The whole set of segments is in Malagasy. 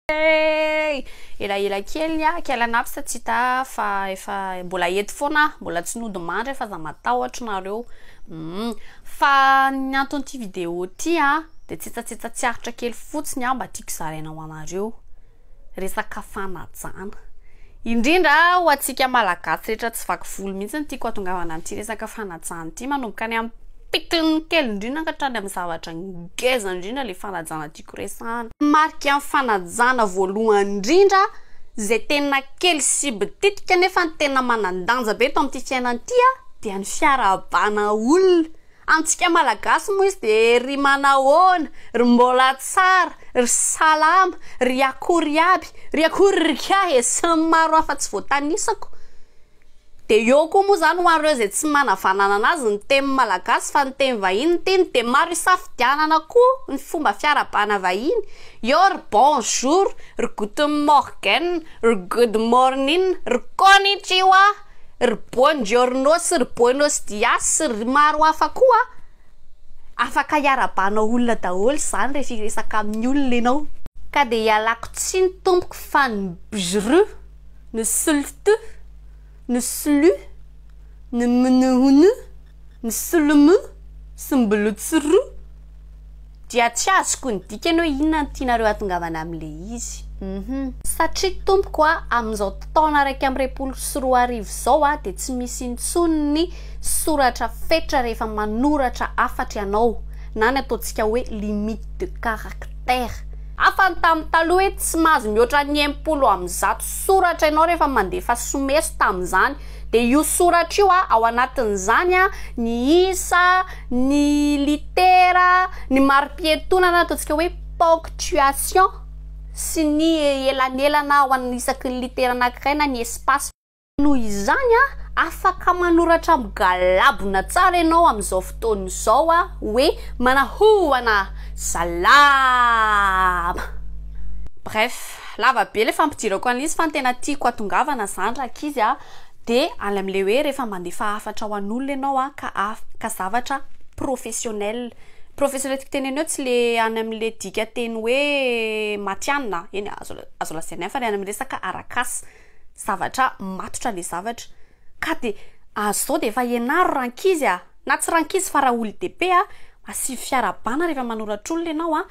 Hey! Elaela kely ny ahy, quel an'absa tsy hita ahy fa efa mbola eto foana aho, mbola tsy nody mandry aho fa aza matahotra nareo. Humm. Fa ny anton'ity vidéo ty a de tsetsatsetsa tsy aritra kely fotsiny a mba tiako zaraina ho anareo, resaka fanajana. Indrindra ho antsika malagasy rehetra tsy vaky volo mihitsy no tiako hatongavana amin'ity resaka fanajana ity, manomboka any amin'ny pikily kely indrindra ka hatrany amin'ny zavatra ngeza indrindra le fanajana tiako. firesahana. Marika ny fanajana voalohany indrindra izay tena kely sy bititika nefa ny tena manan-danja be eto amin'ity fiainana ity dia ny fiarahabana olona. Amintsika Malagasy moa izy dia ry manahoana, ry mbola tsara, ry salama, ry akory aby, ry akory ry kay e! sy ny maro hafa tsy voatanisako. Dia eo koa moa izany ho an'ireo izay tsy manavananana azy ny teny malagasy fa ny teny vahiny no tiany dia maro isafidianana koa ny fomba fiarahabana vahiny eo ry bonjour, ry guten morgen, ry good morning, ry konnichiwa, ry buon giorno sy ry buenos dias sy ry maro hafa koa. Afaka hiarahabanao olona daholo izany rehefa hiresaka amin'ny olona ianao. Ka dia ialako tsiny tompoko fa ny bjru ny slt, ny slu, ny mnhn, ny slm sy ny bltsru dia tsy azoko ny dikany hoe inona no tianareo hatongavana amin'ilay izy uhum. Satria tompoko a, amin'izao taona iraika amby roapolo sy roa arivo izao a, dia tsy misy intsony ny soratra fetra rehefa manoratra hafatra ianao, na ny ataontsika hoe limite de caractère. Hafa ny tamin'ny taloha hoe tsy mahazo mihoatra ny enimpolo amby zato soratra ianao rehefa mandefa someso tamin'izany. Dia io soratra io ao anatin'izany ny isa, ny litera, ny mari-pietona na ataontsika hoe ponctuation sy ny elanelana ao an'ny isaky ny litera anankiray na ny espace. Noho izany, afaka manoratra migalabona tsara ianao amin'izao fotoana izao hoe, Manahoana! Salama! Bref, lava be ilay fampidirako an'ilay izy fa ny tena tiako hatongavana izany rankizy a, dia any amin'ilay hoe rehefa mandefa hafatra ho an'olona ianao ka ka zavatra professionnel. Professionnel tiako tenenina eo tsy ilay any amin'ilay dikanteny hoe matihanina, eny, azo azo lazaina ihany fa ilay any amin'ny resaka arak'asa. Zavatra matotra le zavatra ka de azy zao de efa ianaro rankizy a! na tsy rankizy fa raha olon-dehibe a! masilo fiara bana rehefa manoratra olona ianao a!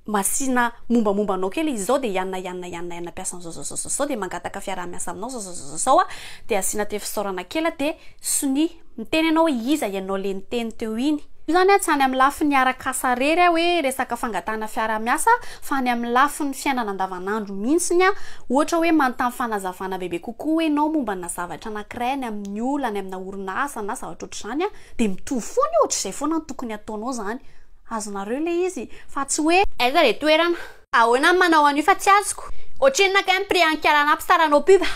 masina mombamomba anao kely izy zao de ianona ianona ianona ianona mpiasa an'zao zao zao zao zao de mangataka fiaraha-miasa aminao zao zao zao zao zao a! de asiana te fisaorana kely a! de sonia. Miteny anao hoe iza ianao le niteny teo iny. Io zany a tsy any amin'ny lafiny arak'asa rery a hoe resaka fangatahana fiarahamiasa fa any amin'ny lafiny fiainana andavanandro mihintsiny a ohatra hoe manontany fanazavana bebe kokoa hoe enao mombana zavatra anankiray any amin'ny olona any amina orinasa na zavatra ohatr'izany a de mitovy foana io ohatr'izay foana no tokony ataonao zany azonareo le izy fa tsy hoe aiza le toerana. Ahoana ny manao an'io fa tsy azoko. Ohatrinona kay ny prix an'i Karana mpy saranao pub a.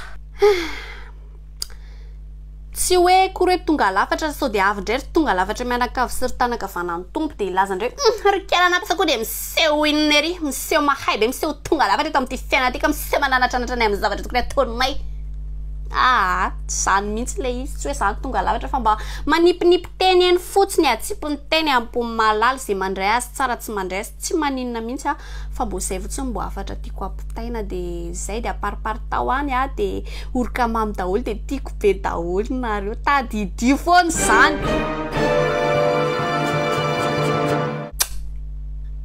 Tsy hoe akory hoe tonga lafatra sao dia avy indray ry tonga lafatra mianakavy sy ry tanakavana ny Tompo dia hilaza indray hoe ry Karana mpy sao koa dia miseho inona ery miseho mahay be miseho tonga lafatra eto amin'ity fiainana ity ka miseho mananatranatra anay amin'ny zavatra tokony ataonay aa tsy izany mihintsy ilay izy tsy hoe izany tonga lafatra fa mba manipinipy teny eny fotsiny atsipiny teny ampon'ny mahalala izay mandray azy tsara tsy mandray Tsy maninona mihitsy aho fa mbo zay fotsiny mbo hafatra tiako hapitaina de zay de apariparitao any aho de oroka mamy daholo de tiako be daholo nareo tadidio foana izany.